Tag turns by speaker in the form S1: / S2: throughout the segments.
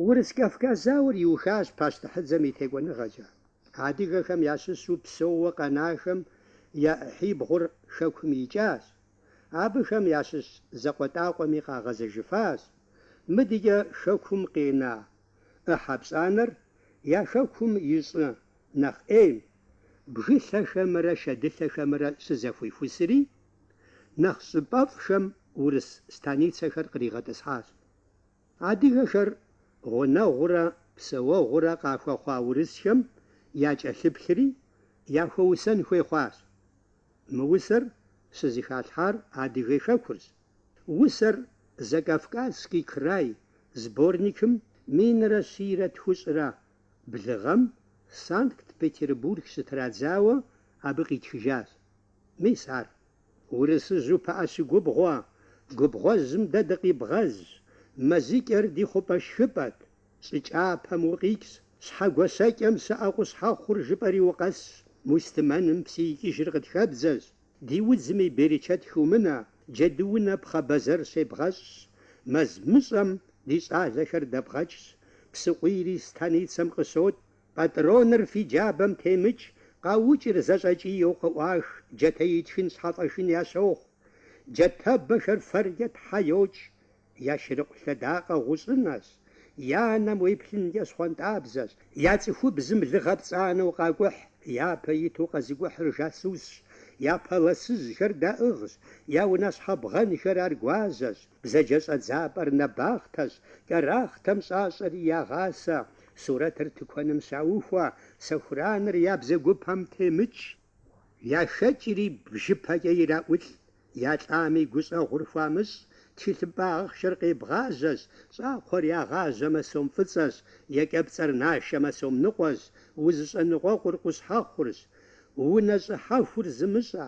S1: Урыс-Кавказ зауэр иухащ пащтыхьыдзэм и текӏуэныгъэкӏэ. Адыгэхэм ящыщу псэууэ къэнахэм я ӏыхьибгъур Хэкум икӏащ. Абыхэм ящыщ закъуэтӏакъуэми къагъэзэжыфащ. Мыдэкӏэ Хэкум къена ӏыхьэ пщӏанэр я Хэкум и щӏы нэхъ ӏейм, бгылъэхэмрэ шэдылъэхэмрэ щызэхуихусри, нэхъ щӏыпӏэфӏхэм урыс станицэхэр къригъэтӏысхьащ. Адыгэхэр гъунэгъурэ псэуэгъурэ къахуэхъуа урысхэм якӏэлъыплъри, яхуэусэн хуей хъуащ. Мы усэр щызэхалъхьар Адыгэ хэкурщ. Усэр Закавказский край сборникым минрэ щийрэ тхущӏрэ блыгъэм Санкт-Петербург щытрадзауэ абы къитхыжащ. Мис ар. Урысыжьу пыӏэ щыгубгъуэ, губгъуэжьым дэ дыкъибгъэз, мэзыкӏэр ди хъупӏэ шхыпӏэт, щӏы кӏапэм укъикӏщ, Щхьэгуащэкӏэм щыӏэ къущхьэхъур жыпӏэри укъэсщ, мустымэным псы икӏыжыр къытхэбдзэщ, ди удзми берычэт хыумынэ, джэдуунэ пхъэ бэзэр щебгъэщӏщ, мэз мыщӏэм ди щӏалэхэр дэбгъэкӏщ, псыкъуийри станицэм къыщотӏ, Пӏатӏроныр фи джабэм темыкӏ, къаукӏыр зэщӏэкӏийэу къыӏуах, джатэ итхын щхьэлӏэхын ящохъу. Джатэбэхэр фэркӏэ тхьэ йокӏ. Я шырыкъу лъэдакъэ гъущӏынэщ, я нэм уеплъынкӏэ щхъуантӏабзэщ, я цӏыхубзым лыгъэ пцӏанэу къакӏухь, япэ иту къэзыкӏухьыр жасусщ, я пэлъэсыжьхэр даӏыгъщ, я унащхьэ бгъэнхэр аргуазэщ, бзаджэ щӏэдзапӏэр нэбахътэщ, кӏэрахътэм щӏащӏэри ягъасэ, Сурэтыр тыкуэным щаухуэ, сэхураныр я бзэгупэм темыкӏ, яхэкӏри бжыпэкӏэ ираӏулӏ, я лӏами гущӏэгъур хуамыщӏ, тхылъымпӏэ ахъшэр къебгъажьэщ, щӏакхъуэр ягъажьэмэ сом фӏыцӏэщ, екӏэпцӏэр нашэмэ сом ныкъуэщ, узыщӏэныкъуэкъур къущхьэхъурщ, унэ щӏыхьэхур зымыщӏэ.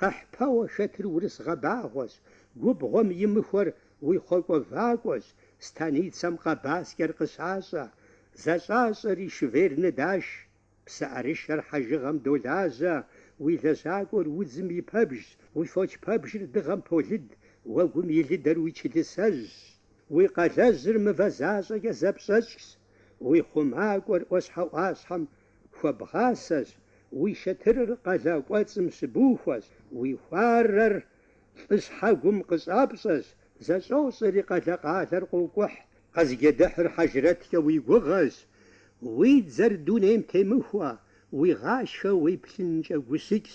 S1: Къэхьпэуэ шэтыр урыс гъэбагъуэщ, губгъуэм имыхуэр уи хъуэкӏуэ вакӏуэщ, станицэм къэбаскӏэр къыщащӏэ, зэщӏащӏэри шывер ныдаш, псы ӏэрышэр хьэжыгъэм долажьэ, уи лэжьакӏуэр удзым и пэбжщ, уи фоч пэбжыр дыгъэм полыд, уэгум илыдэр уи чылысэжьщ, уи къалэжьыр мывэ защӏэкӏэ зэпщӏэкӏщ, уи хъумакӏуэр ӏуащхьэ-ӏуащхьэм хуэбгъасэщ, уи шэтырыр къалэ кӏуэцӏым щыбухуэщ, уи хуарэр лӏыщхьэгум къыщӏапщӏэщ, зэщӏощӏэри къалэ-къалэр къокӏухь. Къэзыджэдыхьыр хьэжрэткӏэ уи гугъэщ, уи дзэр дунейм темыхуэ, уи гъашхэ уеплъынкӏэ гущыкӏщ.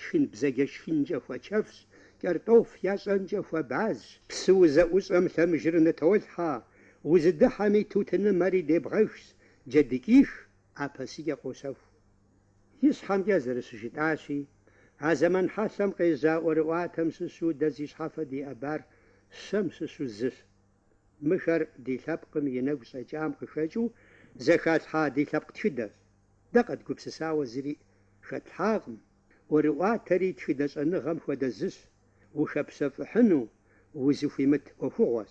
S1: Шхын бзэджэ шхынкӏэ хуэчэфщ, кӏэртӏоф ящӏэнкӏэ хуэбазщ. Псы узэӏущӏэм лъэмыжыр нытолъхьэ, узыдыхьэми тутынымэри дебгъэжщ, джэдыкӏих апэсыкӏэ къощэху. Ищхьэмкӏэ зэрыщыжытӏащи, а зэман хьэлъэм къежьа ӏуэрыӏуатэм щыщу дэ зи щхьэфэ диӏэбар щэм щыщу зыщ. Мыхэр ди лъэпкъым и нэгу щӏэкӏам къыхэкӏыу зэхалъхьа ди лъэпкъ тхыдэщ. Дэ къэдгупсысауэ зыри хэтлъхьакъым, ӏуэрыӏуатэри тхыдэ щӏэныгъэм хуэдэ зыщ, ухэпщэфӏыхьыну узыхуимыт ӏуэхугъуэщ.